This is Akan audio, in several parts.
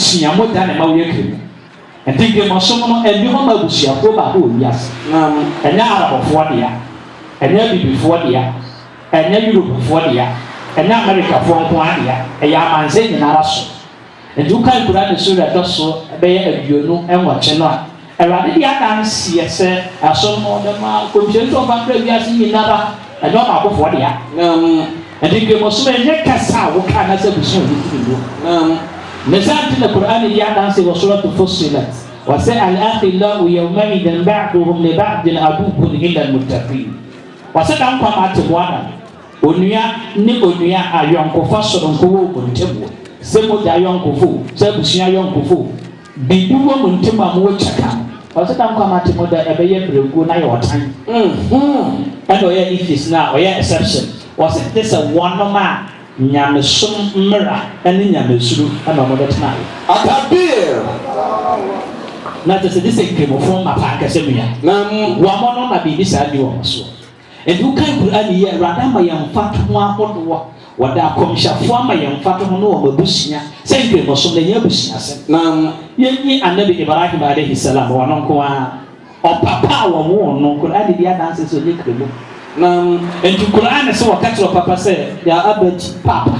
sua mu da ne ma woyɛ kremo. Ɛnti kremosom no ɛnni hɔ ma abusuakuo baako wɔ wiase. Ɛnyɛ Arabfoɔ dea, ɛnyɛ Abibifoɔ dea, ɛnyɛ Europefoɔ dea, ɛnyɛ Amerikafoɔ nko ara dea, ɛyɛ amansan nyinara so. Ɛnti wokan Qur'aan sura ɛtɔso bɛyɛ aduonu nwɔtwe no a, Awurade de adanseɛ sɛ ɛsono no de ma nkɔmhyɛni sɛ ɔmfa nkra wiase nyinara, ɛnyɛ ɔbaakofoɔ dea. Nam. Ɛnti Nkramosom ɛnyɛ kasa a woka anaasɛ abusua a wofiri mu. Nam. Ne saa nti na Qur'aan di adanseɛ wɔ Suratu Fussilat, ɔse, Al-Akhillau yawma'idhin ba'duhum li ba'dhin aduwwun illa al-muttaqiin. Ɔse, Da nkwa no atemmuada no, onua ne onua ayɔnkofa sononko wɔ wɔn ntam o, sɛ mogya ayɔnkofo o, sɛ abusua ayɔnkofo o, Biribi wɔ mo ntam a mowɔ kyɛfa no. Ɔsɛ dɛm kwamma te mo dɛ ɛbɛyɛ mmerɛguo na ayɛ ɔtan. Ɛna ɔyɛ Nephis no a ɔyɛ exception. Ɔsɛ te sɛ wɔnom a nyamesom mmara ne nyamesuro na wɔn de tenaeɛ. Akabir. Na ɛsɛ sɛ te sɛ Nkramofo mmapaa kɛsɛmua. Wɔnom na biribi saa nni wɔn soɔ. Enti wokan Qur'aan yi a, Awurade ama yɛn mfatoho ahodoɔ a Ɔde akɔmhyɛfoɔ ama yɛn mfatoho ne wɔn abusua sɛ Nkramosom no, ɛnyɛ abusuasɛm. Na yɛnyi Annabi Ibrahim alaihi salaam, ɔno nko ara, ɔpapa a wɔwoo no, Qur'aan di adanseɛ sɛ ɔnyɛ Kramoni. Na enti Qur'aan se wɔka kyerɛ ɔpapa sɛ, Ya abati, Paapa.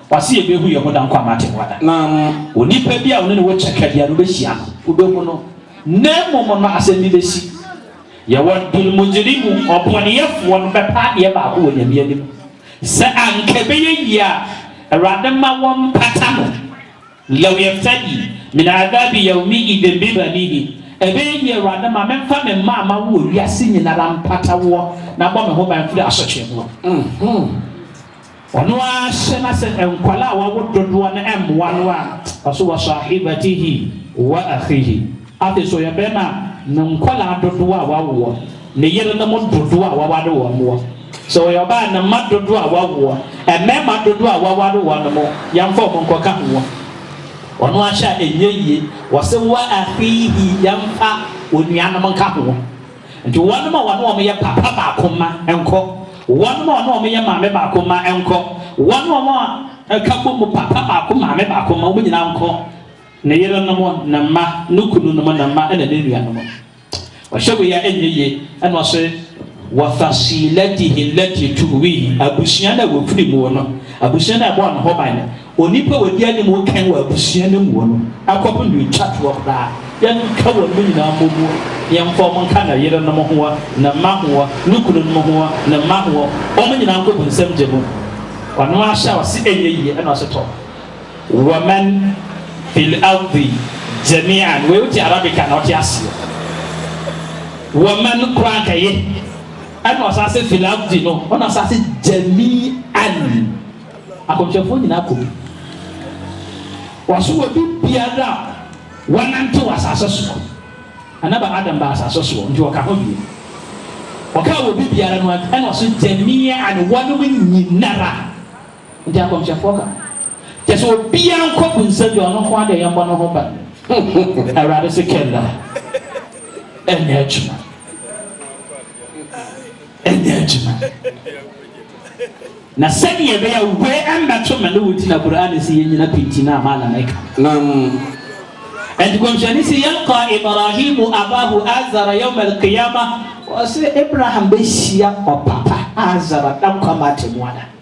W'ase yɛ behu yɛ ho da nko a m'ate boa da. Na onipa bi a wone no wɔ kyɛkɛ bia no wobɛhyia no wobɛhu no na mmom no asɛm bi bɛsi. Yɛ wɔ dul mujirimu ɔbɔneyɛfoɔ no bɛpɛ adeɛ baako wɔ Nyame anim sɛ anka ɛbɛyɛ yie a Awurade ma wɔn pata no Yaw yɛftadi min adhabi yawmi idhin bibanihi, Ɛbɛyɛ yie Awurade ma memfa me mma a mawo wɔ wiase nyinara mpata woɔ na bɔ me ho ban firi asotwee ho. Ɔno ara hyɛ na sɛ nkwadaa a wawo dodoɔ no mmoa no a, ɔse, Wa sahibatihi wa akhihi. Afei so ɔyɛ barima a ne nkwadaa dodoɔ a wawoɔ, ne yerenom dodoɔ a waware wɔn wɔ. Sɛ ɔyɛ ɔbaa a, ne mma dodoɔ a wawoɔ, mmarima dodoɔ a waware wɔn no, yɛmfa wɔn nkɔka ho. Ɔno ahyɛ a, ɛnyɛ yie. Wɔse, wa akhiihi, yɛmfa onuanom nka ho. Nti wɔnom a wɔne wɔn yɛ papa baako mma nkɔ, wɔnom a wɔne wɔn yɛ maame baako mma nkɔ, wɔnom a wɔka bɔ mu papa baako, maame baako mma, wɔn nyinaa nkɔ. Ne yerenom, ne mma, ne kununom, ne mma ɛna ne nuanom. Ɔhyɛ wei a ɛnyɛ yie ɛna ɔse, Wafasilatihi lati tuwihi, abusua no a wɔfiri muo no, abusua no a ɛbɔɔ ne ho ban no, onipa a wɔdi anim kan wɔ abusua no muo no, akɔpem deɛ ɔtwa toɔ koraa. Yɛnka wɔnom nyinaa mmɔ mu, na yɛmfa wɔn nka ne yerenom hoɔ, ne mma hoɔ, ne kununom hoɔ, ne mma hoɔ, wɔnom nyinaa nkɔ bonsam gya mu. Ɔno ahyɛ a ɔse ɛnyɛ yie ɛna ɔse, Tɔ, Waman fil ardi jami'an wei wote Arabic a na wote aseɛ. Waman koraa anka ye ɛna ɔsan se fil ardi no ɔna ɔsan se jami'an akɔmhyɛfoɔ nyinaa kɔ bi. Wɔso wɔ bi biara a wanante wɔ asase soɔ. Anaba Adam baa asase soɔ nti ɔka ho bio. Ɔkaa wɔ bi biara no ɛna ɔso jami'an wɔnom nyinara Enti akɔmhyɛfoɔ ka, Kyerɛ sɛ obiara nkɔbu nsa gya ɔno nko ara deɛ yɛmmɔ ne ho ban. Awurade se, Kalla, ɛnyɛ adwuma, ɛnyɛ adwuma. Na sɛdeɛ ɛbɛyɛ a wei mmɛto me ne wo nti na Qur'aan se yɛnnyina pinti no a Malam ɛka. Naam. Enti Kɔmhyɛni se, Yalqa Ibraahiimu abaahu Aazara yawma al-qiyaamah, ɔse Abraham bɛhyia ɔpapa Aazara da Nkwa-Mma-Atemmuada.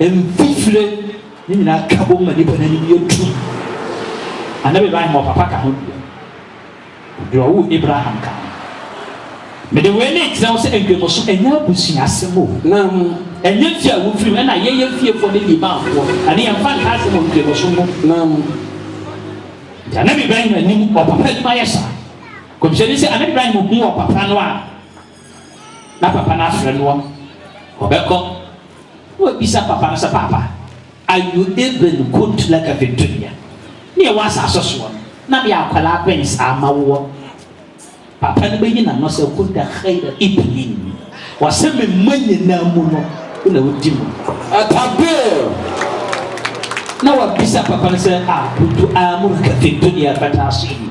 Mfifire no nyinaa ka bom ma nnipa no anim yɛ tumm. Annabi Ibrahim a ɔpapa ka ho deɛ, deɛ ɔwoo Abraham ka ho. Mede wei no rekyerɛ wo sɛ nkremoso ɛnyɛ abusua asɛm o, na ɛnyɛ fie a wofiri mu, ɛna yɛyɛ fiefoɔ ne limanfoɔ, ɛno yɛmfa nka asɛm wɔ nkremoso ho. Nti Annabi Ibrahim anim, ɔpapa anim ayɛ saa. Nkɔmhyɛni se, Annabi Ibrahim huu ɔpapa no a, na papa no afrɛ no a, ɔbɛkɔ na wabisa papa no sɛ, Paapa, ayu Ibn kuntu laka fi dunya, ne yɛwɔ asase soɔ no, na meyɛ akwadaa bɛn saa ma woɔ? Papa no bɛyi n'ano sɛ, Kunta khayra iblin, wɔsɛ me mma nyinaa mu no, wo na wodi mu. Atakbir! Na wabisa papa no sɛ, A kuntu amuruka fi dunya fata'asini?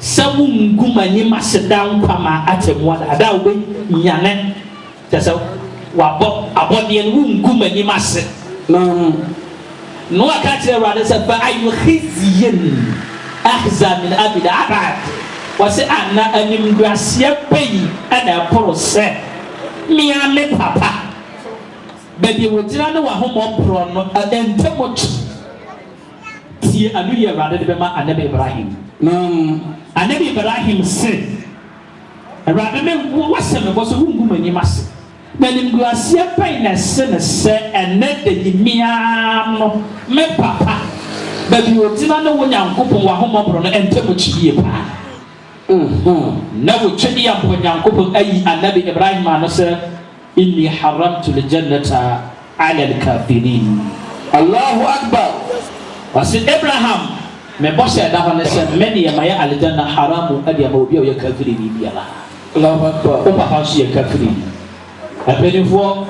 Sɛ mo ngu m'anim ase daa nkwa ma atemmu ada a, da a wobɛnyane, kyerɛ sɛ, wɔabɔ abɔdeɛ no, wongu m'anim ase no. Noa ka kyerɛɛ Awurade sɛ, Fa ayu khizyin akhza min abid abad, ɔse, Ana animguaseɛ bɛyi na ɛporo sɛ me ara me papa, baabi a wɔgyina ne w'ahommɔ mporɔ no ntam kye? Tsie anoyi a Ewuradede bɛma Anabi Ibrahim. Na Anabi Ibrahim se, Ewurade me, Woahyɛ me bɔ sɛ Wonngu m'enyim ase, na animguaseɛ bɛn na ɛsen sɛ ɛnnɛ da yi me ara no me papa, baabi a ogyina ne Wo Nyankopɔn W'ahommɔborɔ no ntamu kye yie paa? Nna Otwadiampɔ Nyankopɔn ayi Anabi Ibrahim ano sɛ. Inni haramtu ljanata ala lkafirin Allahu Akbar Ɔse, Abraham, me bɔhyɛ a ɛda hɔ ne sɛ me deɛ mayɛ Aljanna haramu de ama obi a ɔyɛ kafirini biara. Allahu Akbar Wo papa nso yɛ kafirini. Mpaninfoɔ,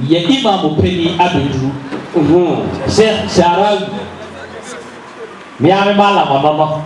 yɛ Imam panin abɛduru. Sheikh Sha'rawi, me ara me malam ɔno no.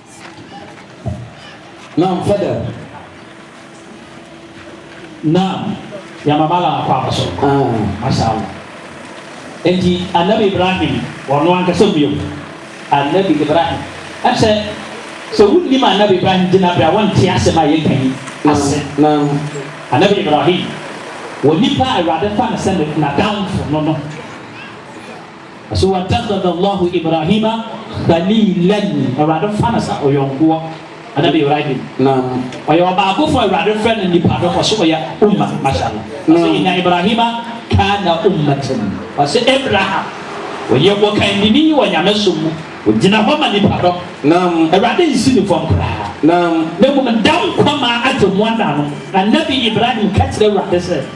Na mfa dɛm. Na yɛamamala akɔ aba so. Masha Allah. Enti Annabi Ibrahim ɔno ankasa mmue mu. Annabi Ibrahim. Ɛmsɛ sɛ wonnim Annabi Ibrahim gyinabre a wonte asɛm a yɛreka yi ase. Annabi Ibrahim wɔ nipa a Awurade fa no sɛ n'adamfo no no. So Wattakhadha Allaahu Ibraahiima Khaliilan, Awurade mfa no sɛ ɔyɔnkoɔ, Anabi Ibrahim, naam, ɔyɛ ɔbaakofoɔ a Awurade frɛ no nnipa dɔm, ɔse ɔyɛ Ummah, Mashallah, ɔse Inna Ibraahiima kaana Ummatan, ɔse Abraham ɔyɛ ɔkandini wɔ Nyamesom mu, ɔgyina hɔ ma nnipa dɔm, naam, Awurade nsi no fam koraa, naam, na mmom da nkwa maa atemmuada no, Anabi Ibrahim ka kyerɛ Awurade sɛ.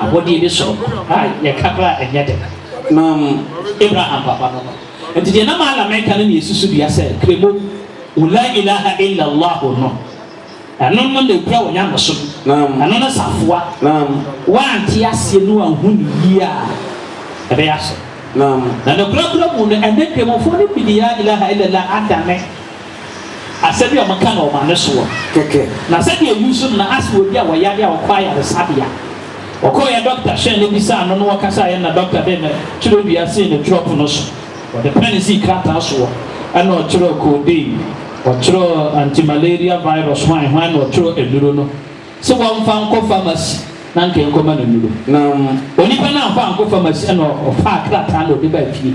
Abɔdeɛ bi soro hɔ a yɛka koraa a ɛnyɛ dɛ ma Abraham papa no no. Nti deɛ na maala meka no ne yɛ susu dua sɛ kremo wo laa ilaha illa llahu no ɛno no na ɛkura wo nyamesom ɛno no safoa woante aseɛ ne woanhu no yie a ɛbɛyɛ asɔ na nokorɛ korɛ mu no ɛnɛ kremofoɔ no bi de laa ilaha illa llah adane Asɛm bi a wɔka no ɔma no soɔ kɛkɛ. Na sɛdeɛ Yu nso na ase wɔ bi a wɔyare a ɔkɔ ayaresabea. Ɔkɔeɛ dɔkta hwɛɛ no bisaa no na wɔkasaeɛ na dɔkta de ne twerɛdua sii ne twerɛ pono so. Ɔde pɛn sii krataa soɔ ɛna ɔtwerɛɛ codeine, ɔtwerɛɛ anti-malaria virus hwan hwan na ɔtwerɛɛ anuro no se wɔmfa nkɔ pharmacy na anka ɛnkɔma no nuro. Na onipa no amfa ankɔ pharmacy ɛna ɔfaa krataa na ɔde baa fie.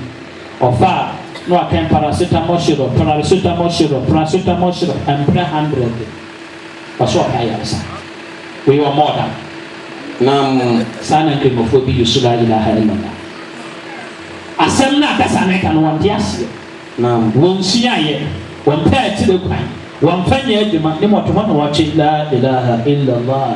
Ɔfaa no akɛn paracetamol syrup, pararisotamol syrup, prasotamol syrup, mprɛ handrɛde. Ɔse ɔpɛ ayaresa. Wei ɔmɔɔ da. Naam. Saa na Nkramofoɔ bi use laa ilaha illallah. Asɛm no a kasa no ɛka no wɔnte aseɛ. Naam. Wɔnsuaeɛ. Wɔmpɛɛ akyire kwan. Wɔmfa nyɛɛ adwuma. Ne mmɔtohɔ na wɔtwe laa ilaha illallah.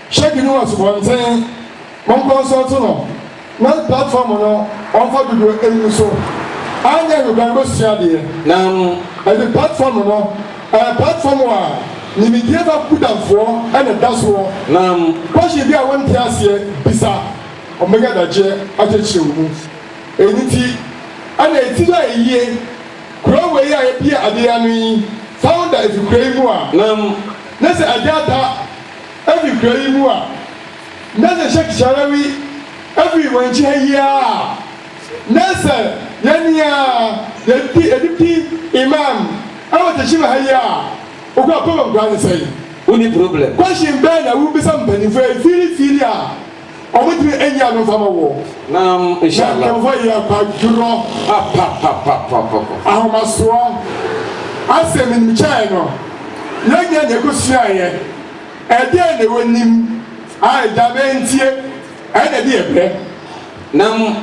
Hyɛ bi no asubɔnten mo nkɔnsɔnto no na platform no ɔmfa dodoɔ ɛngu so anyɛ no dan bɛsua adeɛ na ɛde platform no ɛyɛ platform a nimidie ba kudanfoɔ na ɛda soɔ na question bi a wo nte aseɛ bisa wɔn bɛnya adagyeɛ akyɛkyerɛ wo mu ɛno nti ɛna ɛtiri a ɛyie kuro wei a yɛbie adeɛ ano yi founder ɛfiri kuro yi mu a na sɛ ɛde ada Efi kura yi mu a, na sɛ Sheik Sharawi fi wɔn akyi ha yi ara a, na sɛ yɛne a yɛdi Deputy Imam wɔ Tashima ha yi a, wokura problem koraa ne sɛn? Wonni problem. Question bɛn na wobisa mpanyimfoɔ yi fiirifiiri a? Ɔmo tiri ɛnyɛ ano nfa ma wɔ. Naam inshallah. Na nkanfo yɛ akwadworɔ. Apapapapapapa. Ahomasoɔ asɛm nim kyɛɛ no yɛ nyɛ nea ɛkɔ suaeɛ ɛdeɛn na ɛwɔ nim a agya bɛntie ɛna ɛde yɛ pɛ. Naam.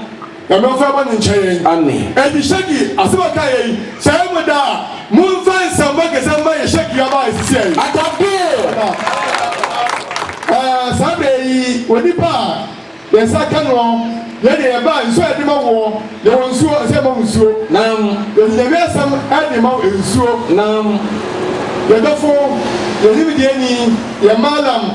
na momfa mo ani nkyerɛ yɛn. Amen. Enti Shagi, asɛm a ɔkaeɛ yei, Sɛ ɛyɛ mo dɛ a, momfa nsɛmma kɛseɛ mma yɛn Shagi aba a ɛsisiiɛ yi. Atta Bill! Aba. Ɛɛ, saa berɛ yi, onipa a yɛn nsa ka noɔ, yɛn deɛ yɛbaa nsuo a yɛde ma woɔ, yɛwɔ nsuo, ɛsɛ yɛma wo nsuo. Nam. Yɛde Nyame asɛm de ma wo, nsuo. Nam. Yɛn dɔfo, yɛn nimdeɛni, yɛn Mallam.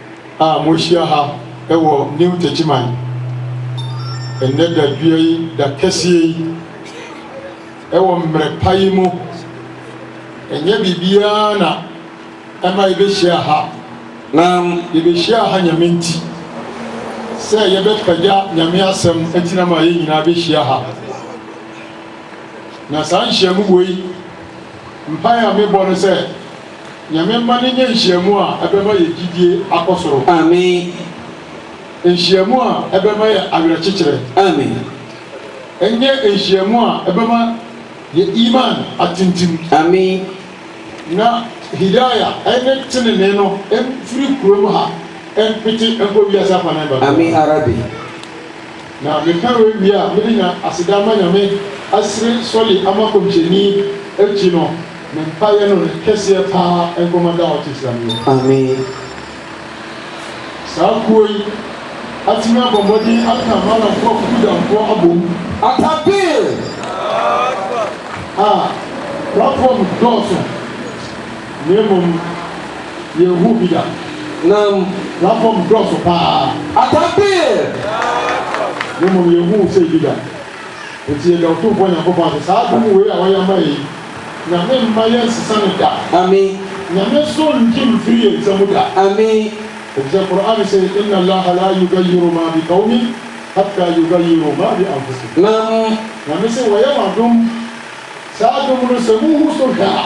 a moahyia ha wɔ New Techiman nnɛ dadwea yi, da kɛseɛ yi, wɔ mmerɛ pa yi mu. Ɛnyɛ biribiara na ɛma yɛbɛhyia ha, na yɛbɛhyia ha Nyame nti, sɛ yɛbɛpagya Nyame asɛm nti na ama yɛn nyinaa bɛhyia ha. Na saa nhyiamu wei, mpaeɛ a mebɔ no sɛ, Nyame mma no nyɛ nhyiamu a ɛbɛma yɛn gyidie akɔ soro. Amen. Nhyiamu a ɛbɛma yɛ awerɛkyekyerɛ. Amen. Ɛnyɛ nhyiamu a ɛbɛma yɛ iman atintim. Amen. Na Hidaya ɛne tenenee no mfiri kurom ha mpete nkɔ wiase afanan babiara. Amen yarabi. Na meka wei wie a, mede nya aseda ama Nyame asere sɔle ama Komhyɛni akyi no, me mpaeɛ no ne kɛseɛ paa nkɔma Dawot Islamiya. Ameen. Saa kuo yi atumi abɔ mmɔden aka Malamfoɔ Kukudanfoɔ abom. Atakbir! Ah, Prafoɔ mo dɔɔso. Na mmom yɛnhuu bi da. Na platform dɔɔso paa. Atabir! Na mmom yɛnhuu sei bi da. Enti yɛda Otumfoɔ Nyankopɔn ase, saa adom wei a wayɛ ama yɛn yi, Nyame mma yɛnsesa no da. Amen. Nyame nso ngye mfiri yɛn nsa mu da. Amen. Efisɛ Qur'aan se, Inna Allaha laa yugayiru maa bi qawmin hatta yugayiru maa bi anfusihim. Naam. Nyame se, Wayɛ mo adom, saa adom no sɛ muhu so hwɛ a.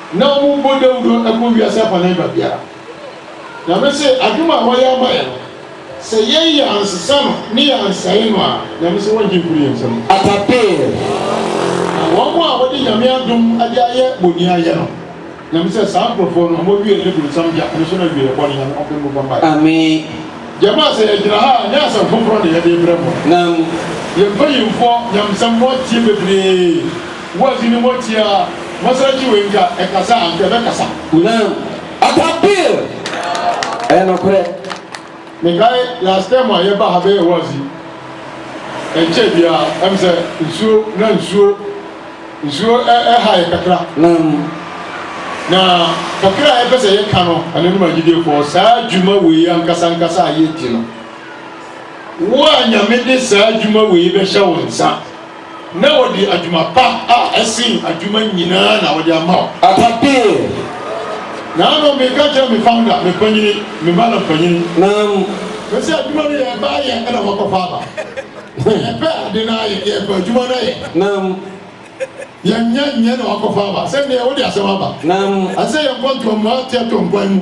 na wɔbɔ dawuro kɔ wiase afanan baabiara. Nyame se adom a wayɛ ama yɛn no, sɛ yɛn yɛansesa no ne yɛansɛe no a, Nyame se wɔngye mfiri yɛn nsam. Atapee. Na wɔn a wɔde Nyame adom de ayɛ boni ayɛ no, Nyame se saa nkorɔfoɔ no, wɔn awieɛ ne bronsam gya, ɛno nso ne awieɛ bɔne. Nyame ɔmpe mo bɔ mpaeɛ. Ameen. Jamaa sɛ yɛgyina ha a nyɛ asɛm foforɔ na yɛde rebrɛ mo. Nam. Yɛmfa yɛn mfoɔ nyamsɛm no atie bebree. Boaz ne mmɔ tia a, mɔsra gye wei nka ɛkasa a, anka ɛbɛkasa. Now ata bill ɛyɛ nokorɛ. Mekae last term a yɛba ha bɛyɛ wazi ɛnkyɛɛ biaa ɛm sɛ nsuo na nsuo nsuo ɛha yɛ kakra nam na kakra a yɛpɛ sɛ yɛ ka no ananom agyidiefoɔ saa dwuma wei ankasa ankasa a yɛ di no wo a nyame de saa dwuma wei bɛhyɛ wo nsa Na wɔde adwuma pa a ɛsen adwuma nyinaa na wɔde ama wo. Atapee. Naano meka kyerɛ me founder, me panyini, me madam panyini. Naam. Me sɛ adwuma no yɛ ɛba ayɛ ɛna wɔakɔfa aba. Sɛ yɛpɛ ade no ayɛ, yɛpɛ adwuma no ayɛ. Naam. Yɛnyɛ nyɛ na wɔakɔfa aba. Sɛ neɛ wode asɛm aba. Naam. Ɛsɛ sɛ yɛkɔ ntɔmmuateɛ tɔnkwan mu.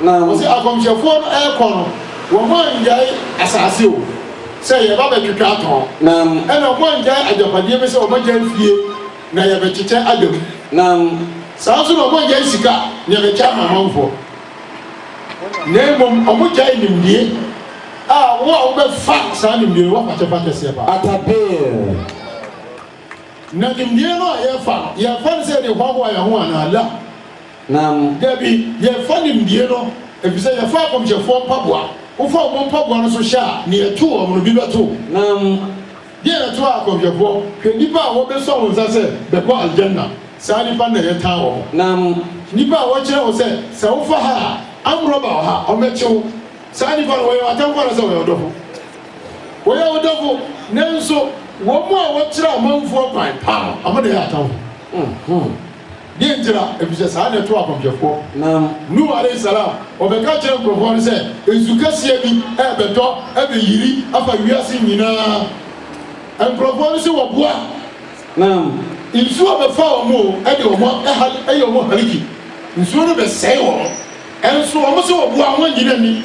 Na wɔse akɔmhyɛfoɔ no rekɔ no, wɔn anngyae asaase o, sɛ yɛreba bɛtwetwe atɔn. Naam. Ɛna wɔn anngyae agyapadeɛ bi sɛ wɔn agyae fie na yɛbɛkyekyɛ ada mu. Naam. Saa nso na wɔn anngyae sika na yɛbɛkyɛ ama amanfoɔ. Na mmom wɔn gyae nimdie, a wo a wobɛfa saa nimdie no woafakyɛ fa kɛseɛ paa. At-Tabir. Na nimdie no a yɛfa no, yɛfa no sɛ yɛde hoahoa yɛn ho anaa? La. nam. Dabi, yɛmfa nimdeɛ no, efisɛ yɛfa akɔmhyɛfoɔ mpaboa, wofa wɔn mpaboa no so hyɛ a, nea ɛto wɔn no bi bɛto wo. Nam. Deɛ na ɛto akɔmhyɛfoɔ, hwɛ nnipa a wɔbesɔ wo nsa sɛ, bɛkɔ Al-Jannah, saa nnipa no na yɛtaa wɔn. Nam. Nnipa a wɔkyerɛ wo sɛ, sɛ wofa ha a, amrɔba wɔ ha, ɔmmɛkye wo, saa nnipa no, wɔyɛ w'atamfo anaasɛ wɔyɛ wo dɔfo? Wɔyɛ wo dɔfo, nanso wɔn a wɔkyerɛ amanfoɔ kwan pa no, wɔn na ɛyɛ atamfo. Deɛ nti na? Ɛfiri sɛ saa na ɛtoo akɔmhyɛfoɔ Nuhu alayi salaam, ɔbɛka kyerɛɛ nkurɔfoɔ no sɛ, Nsu kɛseɛ bi rebɛtɔ abɛyiri afa wiase nyina ara. Nkurɔfoɔ no se wɔboa a, nsuo bɛfa wɔn o, ɛde wɔn ahal, ɛyɛ wɔn haliki, nsuo no bɛsɛe wɔn, nso wɔn se wɔboa a, wɔnnye no nni.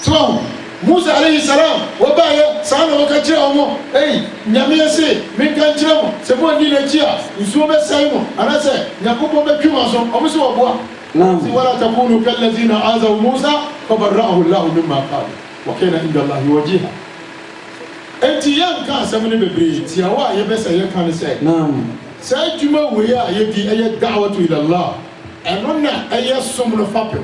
So Musa alaihi salaam wɔbaeɛ saa na wɔka kyerɛɛ wɔn, Ei, Nyame se, menka nkyerɛ mo, sɛ moanni n'akyi a, nsuo bɛsɛe mo, anasɛ Nyankopɔn bɛtwe mo aso? Wɔn se wɔboa. Wɔn se, Wala takunuu kallazina azaw Musa fabarra'ahu Allahu mimma qaalu, wakana inda Allahi wajiha. Enti yɛnka asɛm no bebree, tiawa a yɛbɛsɛ yɛka ne sɛ, saa adwuma wei a yɛdi, ɛyɛ da'watu ila Allah, ɛno na ɛyɛ som no fapem,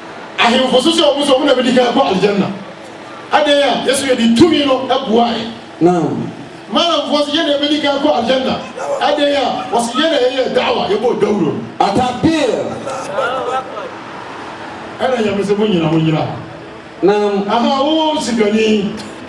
Ahemfo so sɛ wɔn nso wɔn na bedi kan akɔ Aljanna. Adɛn a Yesu yɛ de tumi no buae? Naam. Malamfoɔ se yɛn na yɛbedi kan akɔ Aljanna. Adɛn a? Wɔse yɛn na yɛyɛɛ Da'wa, yɛbɔɔ dawuro no. At-takbir! Ɛna Nyame se, Monnyina, monnyina. Naam. Ahaa, O sikani!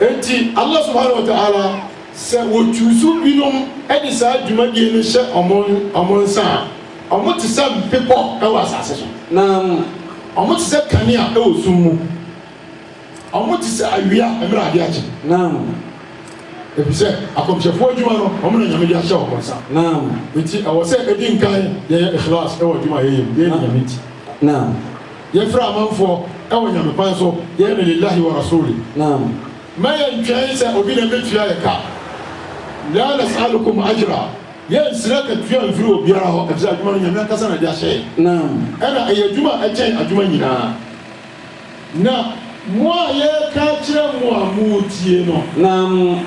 Enti Allah Subhaanahu wa Ta'aala sɛ wɔ choose binom de saa dwumadie no hyɛ wɔn wɔn nsa a, wɔn te sɛ bepɔ wɔ asaase so. Na wɔn te sɛ kanea wɔ sum mu. Wɔn te sɛ awia mmerɛ adeɛ akye. Naam. Efisɛ akɔmhyɛfoɔ adwuma no, wɔn na Nyame de ahyɛ wɔn nsa. Naam. Enti ɛwɔ sɛ edi nkan yɛyɛ Ikhlaas wɔ adwuma a yɛyɛ mu, yɛyɛ no Nyame nti. Naam. Yɛfrɛ amanfoɔ wɔ Nyame kwan so yɛyɛ no Lillahi wa Rasuuli. Naam. Mma yɛntwɛn sɛ obi na ɛbɛtua yɛ ka. Laa nas'alukum ajra, yɛnsrɛ akatua mfiri obiara hɔ efisɛ adwuma no Nyame ankasa na ɛde ahyɛ yɛn. Naam. Ɛna ɛyɛ adwuma a ɛkyɛn adwuma nyinaa. Na mo a yɛreka akyerɛ mo a moretie no. Naam.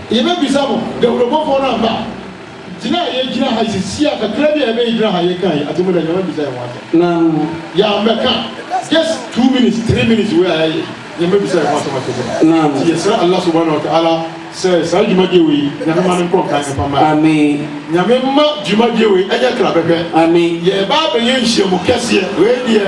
Yɛbɛbisa mo, dawurobɔfoɔ no amba a, gyina a yɛgyina ha yi sesie a, kakra bi a yɛbɛyɛ gyina ha a yɛka yi, atemmuda nyinaa wɔabisa yɛn ho asɛm. Na yɛammɛka just two minutes, three minutes wei a yɛayɛ yi, yɛmmɛbisa yɛn ho asɛm atemmuda. Nti yɛsrɛ Allah subhaanahu wa ta'aala sɛ saa dwumadie wei, Nyame mma no nkɔ nkan mfa mma yɛn. Nyame mma dwumadie wei nyɛ kra bɛhwɛ. Yɛreba abɛyɛ nhyiamu kɛseɛ, wei deɛ.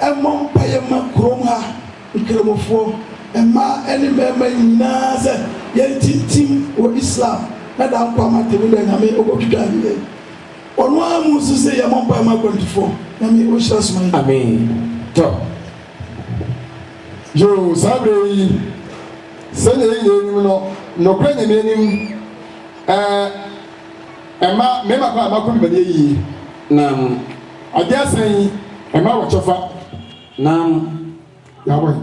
Ɛmmɔ mpaeɛ mma kurom ha nkramofoɔ, mmaa ne mmarima nyinaa sɛ yɛntintim wɔ Islam na daa nkwa ama Atemmuda Nyame ɔbɔtwitwa ne yɛn Ɔno ara mu nso se yɛmmɔ mpaeɛ mma akwantufoɔ, Nyame ɔnhyira soma yi. Ameen tɔ yoo saa berɛ yi sɛdeɛ yɛn nyinaa nim no nokorɛ Nyame anim ɛɛ. Ɛma mmarima kwan ma wɔkɔ dwumadie yie, nam agye asan yi ɛma wɔ kyɛfa, nam yɛabɔ yi.